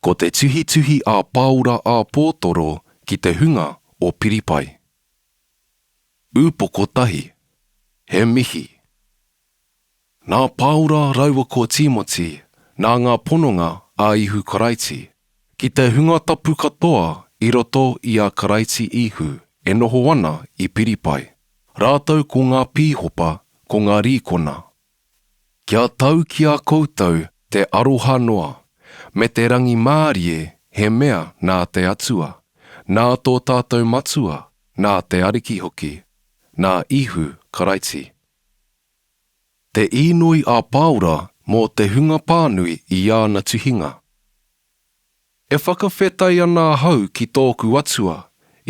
Ko te tuhituhi a Pāora a Pōtoro ki te hunga o Piripai. Ūpoko tahi, he mihi. Nā Pāora raua ko Tīmoti nā ngā pononga a Ihu Karaiti. Ki te hunga tapu katoa i roto i a Karaiti Ihu e noho ana i Piripai, rātou ko ngā pīhopa, ko ngā rīkona. Kia tau ki a koutou te aroha noa, me te rangimārie he mea nā te Atua, nā tō tātou Matua, nā te Ariki hoki, nā Ihu Karaiti. Te īnoi a Pāora mō te hunga pānui i āna tuhinga. E whakawhetai ana ahau ki tōku Atua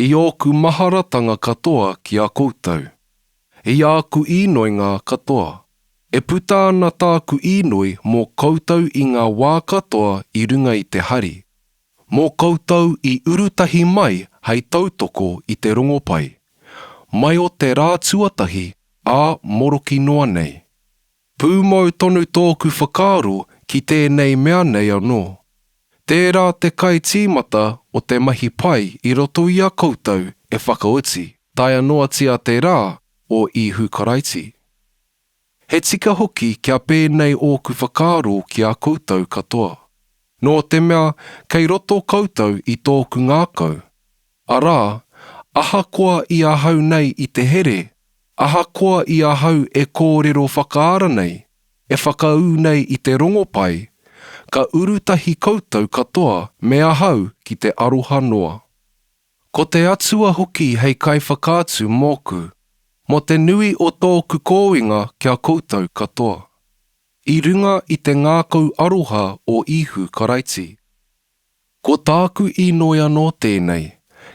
i ōku maharatanga katoa ki a koutou, i āku īnoinga katoa. E puta ana tāku īnoi mō koutou i ngā wā katoa i runga i te hari. Mō koutou i uru tahi mai hei tautoko i te rongopai, mai o te rā tuatahi ā moroki noa nei. Pūmau tonu tōku whakaaro ki tēnei mea nei anō. Tērā te kai tīmata o te mahi pai i roto i a koutou e whakaoti taea noatia te rā o Ihu Karaiti. He tika hoki kia pēnei ōku whakaaro ki a koutou katoa. Nō te mea, kei roto koutou i tōku ngākau. Arā, ahakoa i ahau nei i te here, ahakoa i ahau e kōrero whakaara nei, e whakaū nei i te rongopai, ka uru tahi koutou katoa me ahau ki te aroha noa. Ko te Atua hoki hei Kaiwhakaatu mōku, mō te nui o tōku kōinga ki a koutou katoa. I runga i te ngākau aroha o Īhu Karaiti. Ko tāku īnoi anō tēnei,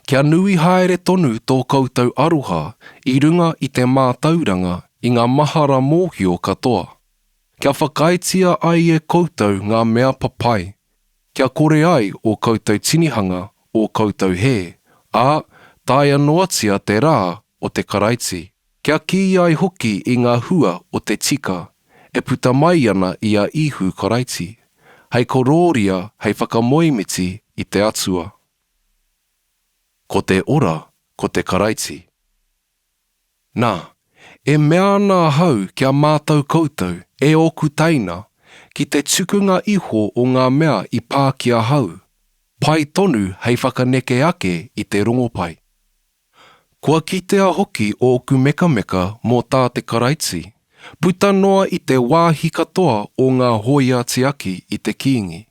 kia nui haere tonu tō koutou aroha i runga i te mātauranga i ngā mahara mōhio katoa, kia whakaaetia ai e koutou ngā mea papai Kia kore ai ō koutou tinihanga, ō koutou hē, ā, taea noatia te rā o te Karaiti. Kia kī ai hoki i ngā hua o te tika, e puta mai ana i a Īhu Karaiti, hei korōria hei whakamoemiti i te Atua. Ko te ora, ko te Karaiti. Nā, e mea ana ahau ki a mātou koutou, e ōku teina, ki te tukunga iho o ngā mea i pā ki ahau, pai tonu hei whakaneke ake i te rongopai. Kua kitea hoki ōku mekameka mō tā te Karaiti, puta noa i te wāhi katoa o ngā hōia tiaki i te Kīngi,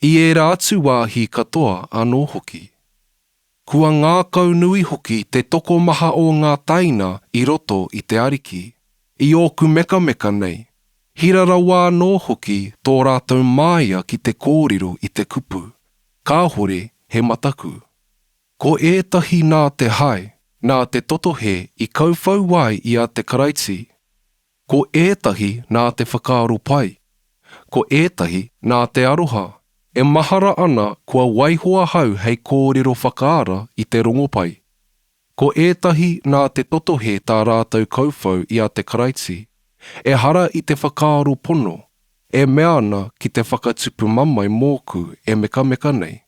i ērā atu wāhi katoa anō hoki. Kua ngākau nui hoki te tokomaha o ngā taina i roto i te Ariki. I ōku mekameka nei, hira rawa anō hoki tō rātou māia ki te kōrero i te kupu, Kāhore he mataku. Ko ētahi nā te hae, nā te totohe i kauwhau ai i a te Karaiti, Ko ētahi nā te whakaaro pai, ko ētahi nā te aroha. E mahara ana kua waiho ahau hei kōrero whakaara i te rongopai. Ko ētahi nā te totohe tā rātou kauwhau i a te Karaiti, ehara i te whakaaro pono, e mea ana ki te whakatupu mamae mōku e mekameka nei.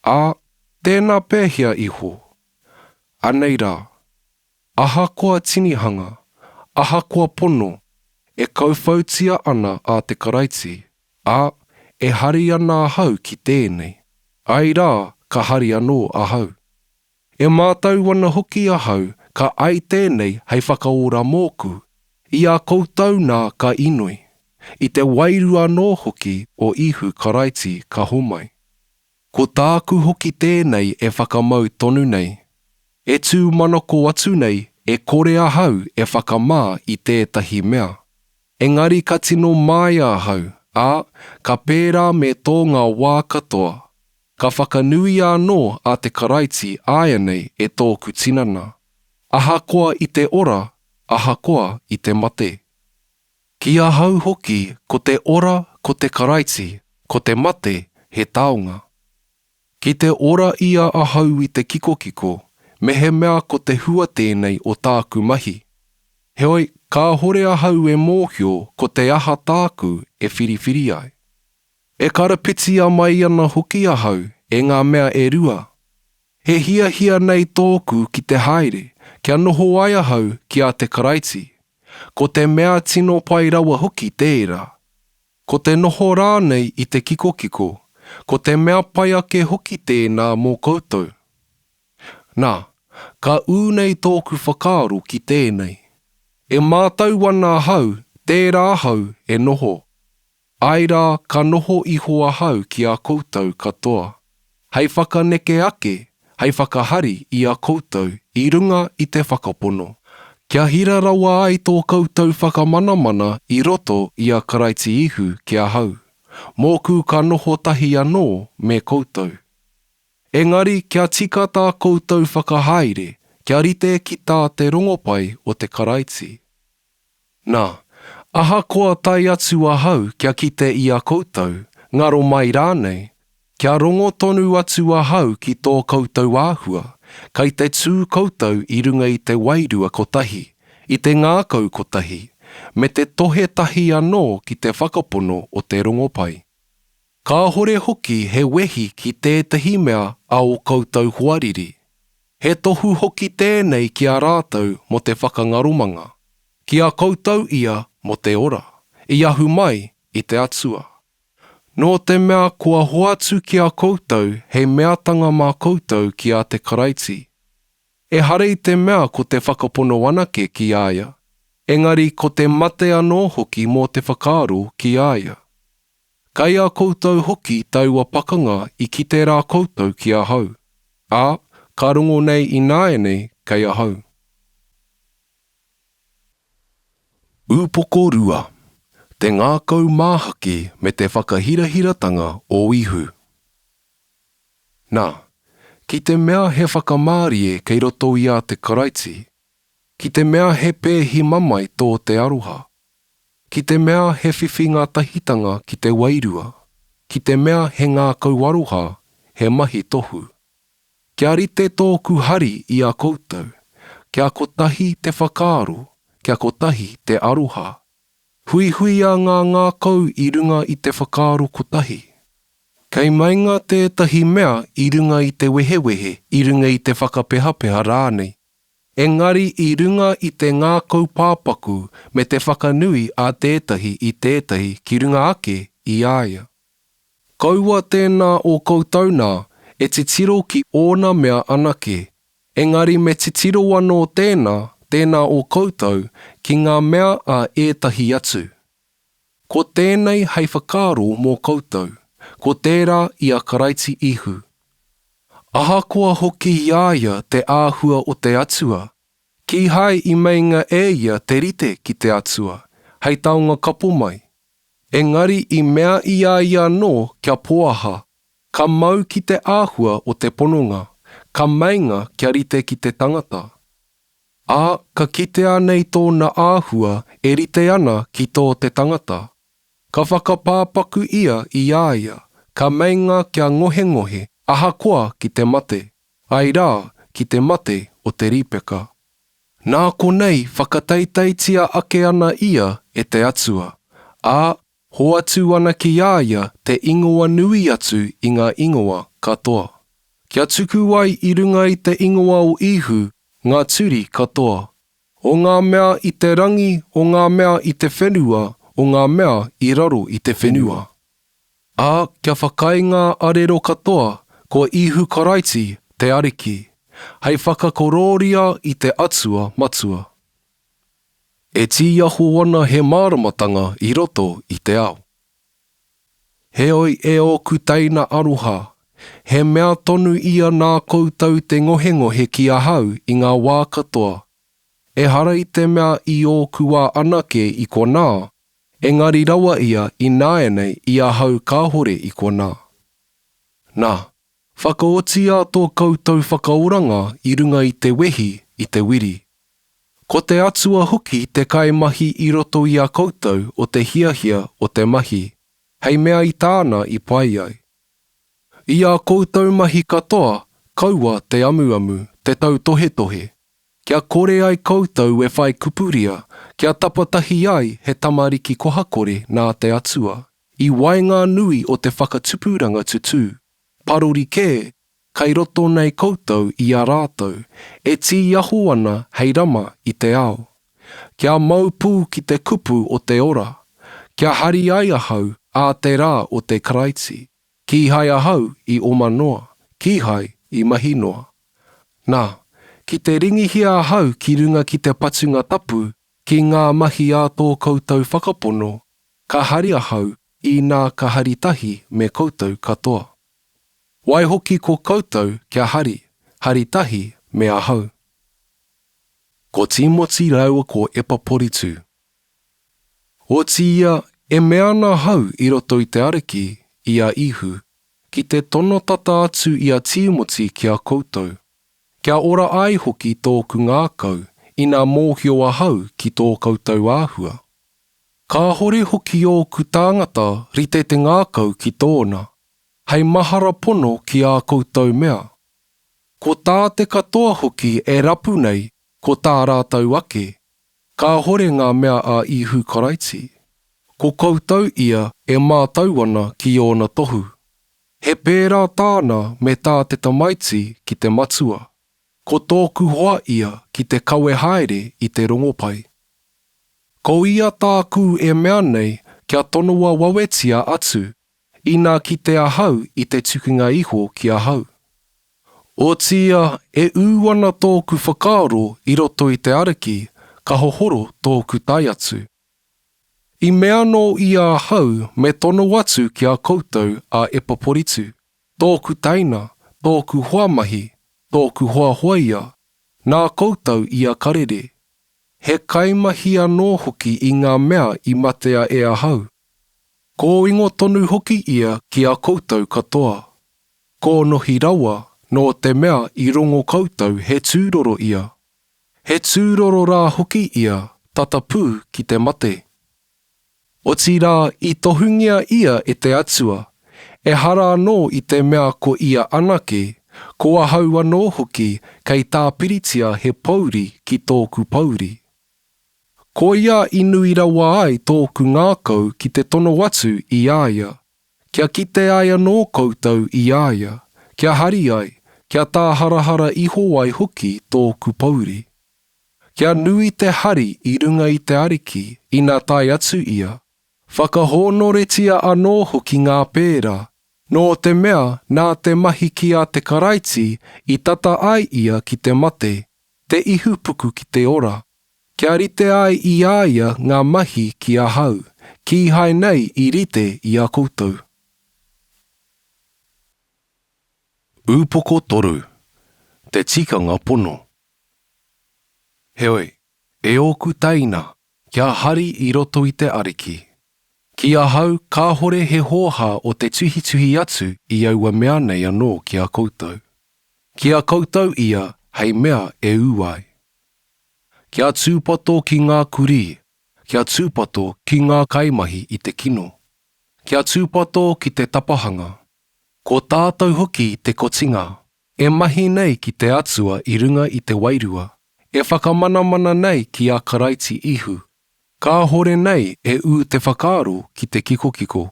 Ā, tēnā pēhea iho? Anei rā. Ahakoa tinihanga, ahakoa pono, e kauwhautia ana a te Karaiti, ā, e hari ana ahau ki tēnei, āe rā, ka hari anō ahau. E mātau ana hoki ahau ka ai tēnei hei whakaora mōku, i a koutou nā ka inoi, i te wairua anō hoki o Ihu Karaiti ka homai. Ko tāku hoki tēnei e whakamau tonu nei. E tū manako atu nei e kore ahau e whakamā i tētahi mea. Engari ka tino māia ahau, ā, ka pērā me tō ngā wā katoa. Ka whakanuia anō a te Karaiti āianei e tōku tinana, ahakoa i te ora, ahakoa i te mate. Ki ahau hoki ko te ora ko te Karaiti, ko te mate he taonga. Ki te ora ia ahau i te kikokiko, mehemea ko te hua tēnei o tāku mahi. Heoi, kāhore ahau e mōhio ko te aha tāku e whiriwhiri ai. E karapitia mai ana hoki ahau e ngā mea e rua. He hiahia nei tōku ki te haere, kia noho ai ahau ki a te Karaiti. Ko te mea tino pai rawa hoki tērā. Ko te noho rānei i te kikokiko, ko te mea pai ake hoki tēnā mō koutou. Nā, ka ū nei tōku whakaaro ki tēnei. E mātau ana ahau, tērā ahau e noho. Āe rā, ka noho iho ahau ki a koutou katoa, hei whakaneke ake, hei whakahari i a koutou i runga i te Whakapono, kia hira rawa ai tō koutou whakamanamana i roto i a Karaiti Ihu ki ahau, mōku ka noho tahi anō me koutou. Engari kia tika tā koutou whakahaere kia rite ki tā te rongopai o te Karaiti. Nā, ahakoa tae atu ahau kia kite i a koutou, ngaro mai rānei, kia rongo tonu atu ahau ki tō koutou āhua, kei te tū koutou i runga i te wairua kotahi, i te ngākau kotahi, me te tohe tahi anō ki te whakapono o te rongopai. Kāhore hoki he wehi ki tētahi mea a ō koutou hoariri. He tohu hoki tēnei ki a rātou mō te whakangaromanga, ki a koutou ia mō te ora, i ahu mai i te Atua. Nō te mea kua hoatu ki a koutou he meatanga mā koutou ki a te Karaiti. Ehara i te mea ko te whakapono anake ki a ia, engari ko te mate anō hoki mō te whakaaro ki a ia. Kei a koutou hoki taua pakanga i kite rā koutou ki ahau, ā, ka rongo nei ināianei kei ahau. Upoko Rua, Te Ngākau Māhaki me te Whakahirahiratanga o Ihu. Nā, ki te mea he whakamārie kei roto i a te Karaiti, Ki te mea he pēhi mamae tō te aroha. Ki te mea he whiwhi ngā tahitanga ki te wairua. Ki te mea he ngākau aroha, he mahi tohu. Kia rite tōku hari i a koutou. Kia kotahi te whakaaro, kia kotahi te aroha. Huihuia ngā ngākau i runga i te whakaaro kotahi. Kei meinga tētahi mea i runga i te wehewehe, i runga i te whakapehapeha rānei. Engari i runga i te ngākau pāpaku me te whakanui a tētahi i tētahi ki runga ake i a ia. Kaua tēnā o koutou nā, e titiro ki ōna mea anake, engari me titiro anō tēnā, tēnā o koutou, ki ngā mea a ētahi atu. Ko tēnei hei whakaaro mō koutou, ko tērā i a Karaiti Ihu. Ahakoa hoki i a ia te āhua o te Atua, kīhai i meinga e ia te rite ki te Atua, hei taonga kapo mai, engari i mea i a ia anō kia pōaha, ka mau ki te āhua o te pononga, ka meinga kia rite ki te tangata. Ā, ka kitea nei tōna āhua e rite ana ki tō te tangata. Ka whakapāpaku ia i a ia, ka meinga kia ngohengohe ahakoa ki te mate, āe rā, ki te mate o te rīpeka. Nā konei whakataitaitia ake ana ia e te Atua, ā, Hoatu ana ki a ia te ingoa nui atu i ngā ingoa katoa. Kia tuku ai i runga i te ingoa o Īhu ngā turi katoa. O ngā mea i te rangi, o ngā mea i te whenua, o ngā mea i raro i te whenua. Ā, kia whakaae ngā arero katoa, ko Īhu Karaiti te Ariki, hei whakakorōria i te Atua Matua. E tīaho ana he māramatanga i roto i te ao. Heoi e ōku teina aroha, he mea tonu ia nā koutou te ngohengohe ki ahau i ngā wā katoa, ehara i te mea i ōku wā anake i konā, engari rawa ia ināianei i ahau kāhore i konā. Nā, Whakaotia tō koutou whakaoranga i runga i te wehi, i te wiri. Ko te Atua hoki te kaimahi i roto i a koutou o te hiahia o te mahi, hei mea i Tāna i pai ai. I ā koutou mahi katoa, kaua te amuamu, te tautohetohe, kia kore ai koutou e whai kupuria, kia tapatahi ai he tamariki kohakore nā te Atua. I waenganui o te whakatupuranga tutū, parori kē, kai roto nei koutou i a rātou, e tīaho ana hei rama i te ao. Kia mau pū ki te kupu o te ora, kia hari ai ahau ā te rā o te Karaiti, kīhai ahau i oma noa, kīhai i mahi noa. Nā, ki te ringihia ahau ki runga ki te patunga tapu Ki ngā mahi a tō koutou whakapono, ka hari ahau inā ka hari tahi me koutou katoa. Waihoki ko koutou kia hari, hari tahi me ahau. Ko Tīmoti rāua ko Epaporitu. Otiia e mea ana ahau i roto i te Ariki, i a Ihu, ki te tono tata atu i a Tīmoti ki a koutou, Kia ora ai hoki tōku ngākau ina mōhio ahau ki tō koutou āhua. Kāhore hoki ōku tāngata rite te ngākau ki tōna, hei mahara pono ki ā koutou mea. Ko tā te katoa hoki e rapu nei ko tā rātou ake, kāhore ngā mea a Ihu Karaiti, ko koutou ia e mātau ana ki ōna tohu. He pērā tāna me tā te tamaiti ki te matua. Ko tōku hoa ia ki te kawe haere i te rongopai. Ko ia tāku e mea nei kia tonoa wawetia atu ina kite ahau i te tukinga iho ki ahau. Otiia e ū ana tōku whakaaro i roto i te ariki ka hohoro tōku tae atu. I mea anō ia ahau me tono atu ki a koutou a Epaporitu, tōku taina, tōku hoamahi, tōku hoahoa ia, nā koutou ia ka rere. He kaimahi anō hoki i ngā mea i matea e ahau. Kōingo tonu hoki ia ki a koutou katoa. Kōnohi rawa, nō te mea i rongo koutou he tūroro ia. He tūroro rā hoki ia tata pū ki te mate. Otirā i tohungia ia e te Atua, ehara anō i te mea ko ia anake, ko ahau anō hoki kei tāpiritia he pōuri ki tōku pōuri. Koia i nui rawa ai tōku ngākau ki te tono atu i a ia, Kia kite ai anō koutou i a ia, kia hari ai, kia tāharahara iho ai hoki tōku pōuri. Kia nui te hari i runga i te Ariki ina tae atu ia, whakahōnoretia anō hoki ngā pērā, nō te mea nā te mahi ki a te Karaiti i tata ai ia ki te mate, te ihupuku ki te ora. Kia rite ai i a ia ngā mahi ki ahau, kīhai nei i rite i a koutou. Upoko toru, te tikanga pono. Heoi, e ōku teina, kia hari i roto i te Ariki. Ki ahau kāhore he hōhā o te tuhituhi atu i aua mea nei anō ki a koutou. Ki a koutou ia hei mea e ū ai. Kia tūpato ki ngā kurī, kia tūpato ki ngā kaimahi i te kino. Kia tūpato ki te tapahanga. Ko tātou hoki te kotinga, e mahi nei ki te Atua i runga i te Wairua, e whakamanamana nei ki a Karaiti Ihu, kāhore nei e ū te whakaaro ki te kikokiko.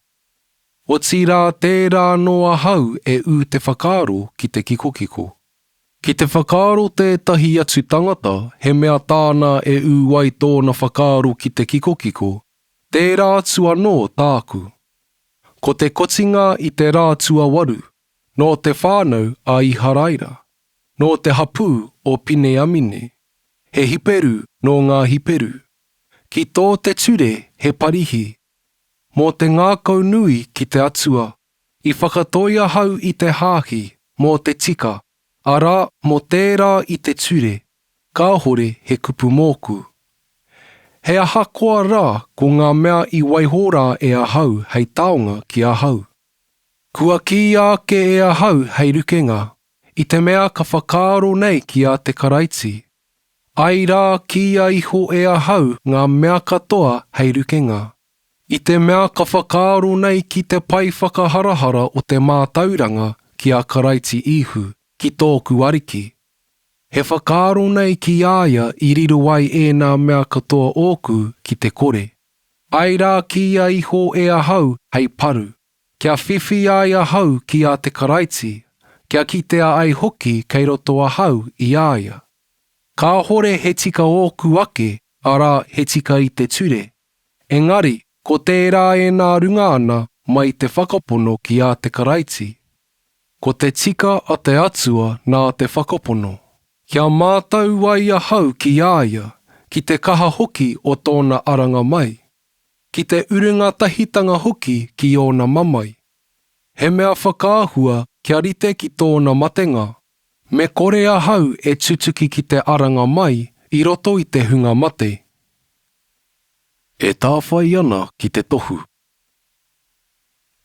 Otirā tērā anō ahau e ū te whakaaro ki te kikokiko. Ki te whakaaro tētahi atu tangata he mea tāna e ū ai tōna whakaaro ki te kikokiko, tērā atu anō tāku. Ko te kotinga i te rā tuawaru, nō te whānau a Iharaira, nō te hapū o Pineamine, he Hiperu nō ngā Hiperu. Ki tō te ture he parihi, mō te ngākaunui ki te Atua I whakatoi ahau i te hāki mō te tika, arā, mō tērā i te ture, kāhore he kupu mōku. He ahakoa rā ko ngā mea i waiho rā e ahau hei taonga ki ahau. Kua kīia ake e ahau hei rukenga, i te mea ka whakaaro nei ki a te Karaiti, ai rā kīia iho e ahau ngā mea katoa hei rukenga. I te mea ka whakaaro nei ki te pae whakaharahara o te mātauranga ki a Karaiti Īhu, ki tōku Ariki. He whakaaro nei ki a ia i riro ai ēnā mea katoa ōku ki te kore. Āe rā kīia iho e ahau hei paru, kia whiwhi ai ahau ki a te Karaiti, kia kitea ai hoki kei roto ahau i a ia. Kāhore he tika ōku ake, arā, he tika i te ture, Engari, ko tērā e nā runga ana mai te whakapono ki ā te Karaiti. Ko te tika a te Atua nā te whakapono. Kia mātau ai ahau ki ā ia, ki te kaha hoki o tōna aranga mai, ki te uru ngatahitanga hoki ki ōna mamae. He mea whakaahua kia rite ki tōna matenga. Me kore ahau e tutuki ki te aranga mai i roto i te hunga mate. E tāwhai ana ki te tohu.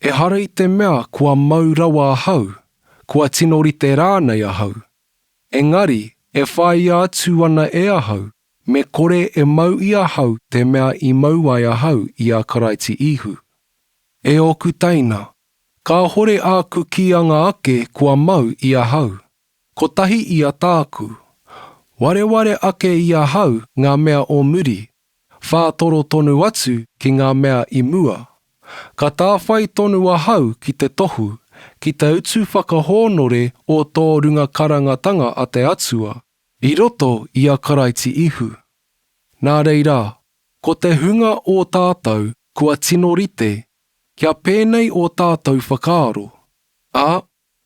Ehara i te mea kua mau rawa ahau, kua tino rite rānei ahau, engari e whāia atu ana e ahau me kore e mau i ahau te mea i mau ai ahau i a Karaiti Ihu. E ōku teina, kāhore āku kīanga ake kua mau i ahau. Kotahi ia tāku. Wareware ake i ahau ngā mea o muri, whātoro tonu atu ki ngā mea i mua. Ka tāwhai tonu ahau ki te tohu, ki te utu whakahōnore o tō runga karangatanga a te Atua, i roto i a Karaiti Ihu. Nā reira, ko te hunga o tātou kua tino rite, kia pēnei ō tātou whakaaro, ā,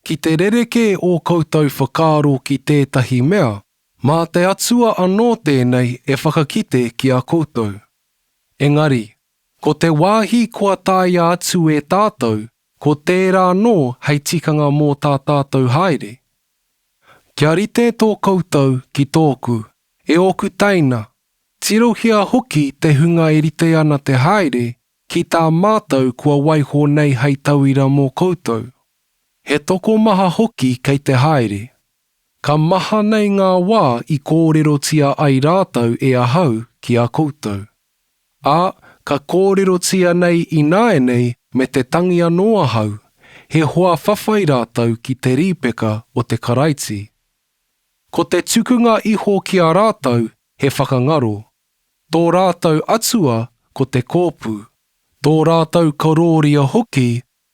Ki te rerekē ō koutou whakaaro ki tētahi mea, mā te Atua anō tēnei e whakakite ki a koutou. Engari, ko te wāhi kua tāia atu e tātou, ko tērā anō hei tikanga mō tā tātou haere. Kia rite tō koutou ki tōku, e ōku teina, tirohia hoki te hunga e rite ana te haere Ki tā mātou kua waiho nei hei tauira mō koutou, he tokomaha hoki kei te haere. Ka maha nei ngā wā i kōrerotia ai rātou e ahau ki a koutou. Ā, ka kōrerotia nei ināianei me te tangi anō ahau, he hoa whawhai rātou ki te rīpeka o te Karaiti. Ko te tukunga iho ki a rātou he whakangaro. Tō rātou atua ko te kōpū, tō rātou karōria hoki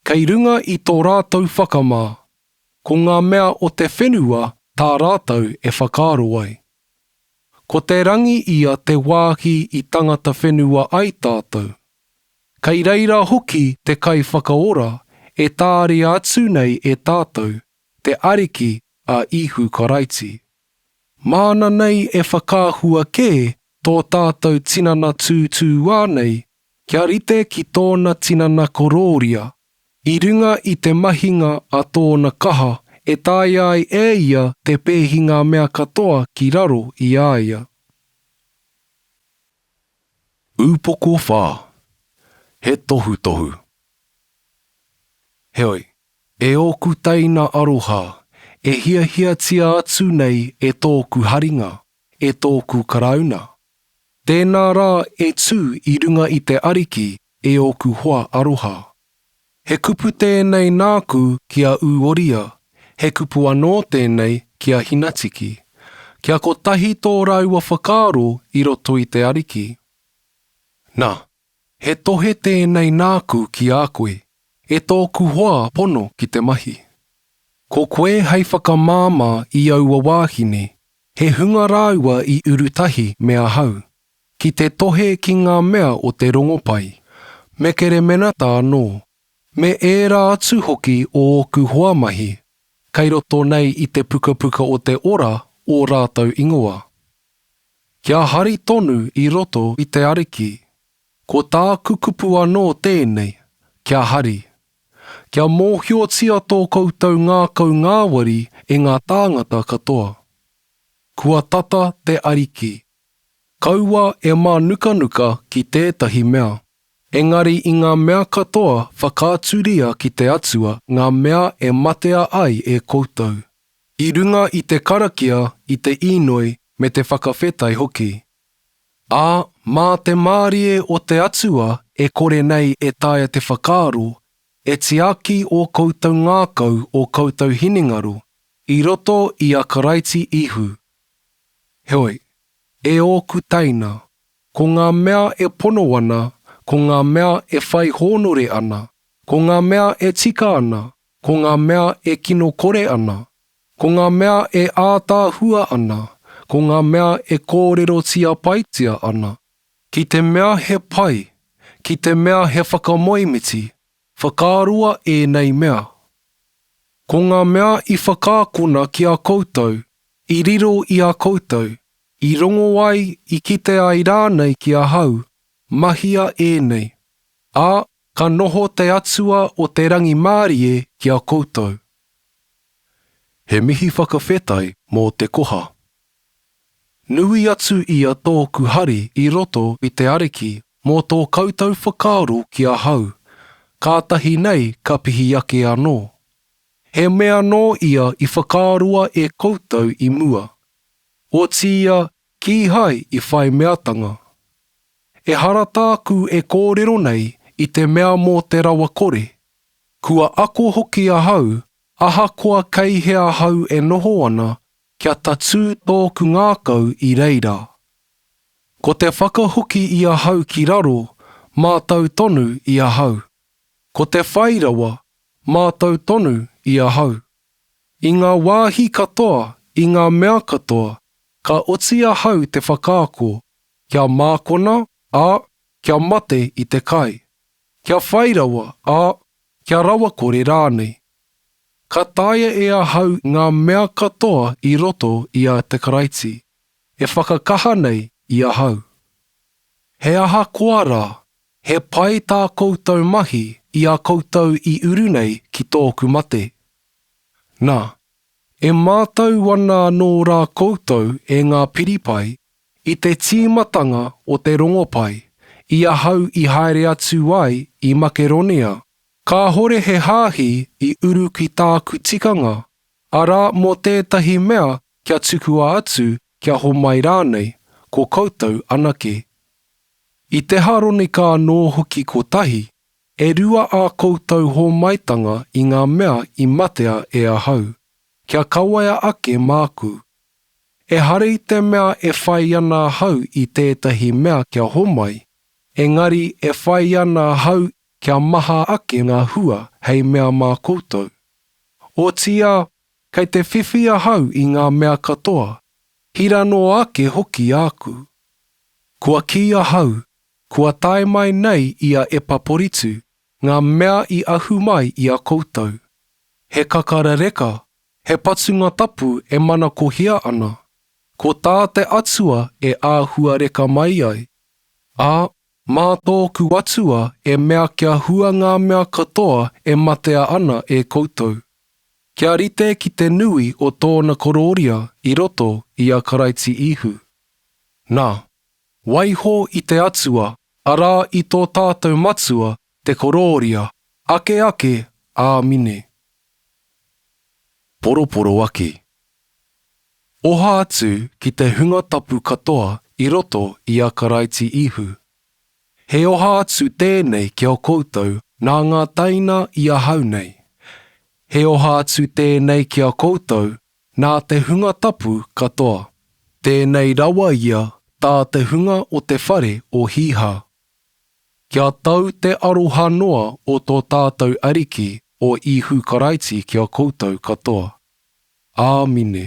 kei runga i tō rātou whakamā. Ko ngā mea o te whenua tā rātou e whakaaro ai. Ko te rangi ia te wāhi i tangata whenua ai tātou. Kei reira hoki te Kaiwhakaora e tāria atu nei e tātou, te Ariki a Ihu Karaiti. Māna nei e whakaahua kē tō tātou tinana tūtūā nei kia rite ki tōna tinana korōria, i runga i te mahinga a tōna kaha e taea ai e ia te pēhi ngā mea katoa ki raro i a ia. Upoko whā, he tohutohu. Heoi, e ōku teina aroha, e hiahiatia atu nei e tōku haringa, e tōku Karauna, tēnā rā e tū i runga i te Ariki E ōku hoa aroha. He kupu tēnei nāku ki a Ūoria, he kupu anō tēnei ki a Hinatiki. Kia kotahi tō rāua whakaaro i roto i te Ariki. Nā, he tohe tēnei nāku ki a koe, e tōku hoa pono ki te mahi. Ko koe hei whakamāmā i aua wāhine, he hunga rāua i uru tahi me ahau, Ki te tohe ki ngā mea o te rongopai, me keremenata anō, me ērā atu hoki o ōku hoa mahi, kei roto nei i te Pukapuka o te Ora ō rātou ingoa. Kia hari tonu i roto i te Ariki. Ko tāku kupu anō tēnei, kia hari. Kia mōhiotia tō koutou ngākau ngāwari e ngā tāngata katoa. Kua tata te Ariki. Kaua e mānukanuka ki tētahi mea. Engari i ngā mea katoa whakaaturia ki te Atua ngā mea e matea ai e koutou. I runga i te karakia, i te īnoi, me te whakawhetai hoki. Ā, mā te mārie o te Atua e kore nei e taea te whakaaro, e tiaki ō koutou ngākau ō koutou hinengaro, i roto i a Karaiti Ihu. Heoi, e ōku teina, ko ngā mea e pono ana, ko ngā mea e whai hōnore ana, ko ngā mea e tika ana, ko ngā mea e kinokore ana, ko ngā mea e ātaahua ana, ko ngā mea e kōrerotia paitia ana, ki te mea he pai, ki te mea he whakamoemiti, Whakaroa ēnei mea. Ko ngā mea i whakaakona ki a koutou, i riro i a koutou, i rongo ai, i kite ai rānei ki ahau, mahia ēnei, ā, ka noho te Atua o te rangimārie ki a koutou. He mihi whakawhetai mō te koha. Nui atu ia tōku hari i roto i te Ariki mō tō koutou whakaaro ki ahau, kātahi nei ka pihi ake anō. He mea nō ia i whakaroa e koutou i mua, otiia kīhai i whai meatanga. Ehara tāku e kōrero nei i te mea mō te rawakore, kua ako hoki ahau ahakoa kei hea ahau e noho ana Kia tatū tōku ngākau i reira. Ko te whakahoki i ahau ki raro, mātau tonu i ahau. Ko te whai rawa, mātau tonu i ahau. I ngā wāhi katoa, i ngā mea katoa, ka oti ahau te whakaako, kia mākona, ā, kia mate i te kai. Kia whai rawa, ā, kia rawakore rānei. Ka taea e ahau ngā mea katoa i roto i a te Karaiti e whakakaha nei i ahau. He aha koa rā, he pai tā koutou mahi i a koutou i uru nei ki tōku mate. Nā, e mātau ana anō rā koutou e ngā Piripai i te tīmatanga o te rongopai i ahau i haere atu ai i Makeronia Kāhore he hāhi i uru ki tāku tikanga, arā mō tētahi mea kia tukua atu, kia homai rānei, ko koutou anake. I te Haronika anō hoki kotahi, e rua ā koutou hōmaitanga i ngā mea i matea e ahau, kia kawaia ake māku. Ehara i te mea e whai ana ahau i tētahi mea kia homai, engari e whai ana ahau kia maha ake ngā hua hei mea mā koutou. Otīā, kei te whiwhi ahau i ngā mea katoa, hira noa ake hoki āku. Kua kī ahau, kua tae mai nei i a Epaporitu ngā mea i ahu mai i a koutou, he kakara reka, he patunga tapu e manakohia ana, ko tā te Atua e āhua reka mai ai, ā, Mā tōku Atua e mea kia hua ngā mea katoa e matea ana e koutou, kia rite ki te nui o tōna korōria i roto i a Karaiti Ihu. Nā, waiho i te Atua, arā i tō tātou Matua Te korōria, ake ake ā mine. Poroporo ake. Oha atu ki te hunga tapu katoa i roto i a Karaiti Ihu. He oha atu tēnei ki a koutou nā ngā taina i ahau nei. He oha atu tēnei ki a koutou nā te hunga tapu katoa. Tēnei rawa ia tā te hunga o te whare o Hīhā. Kia tau te aroha noa o tō tātou Ariki o Īhu Karaiti ki a koutou katoa. Āmine.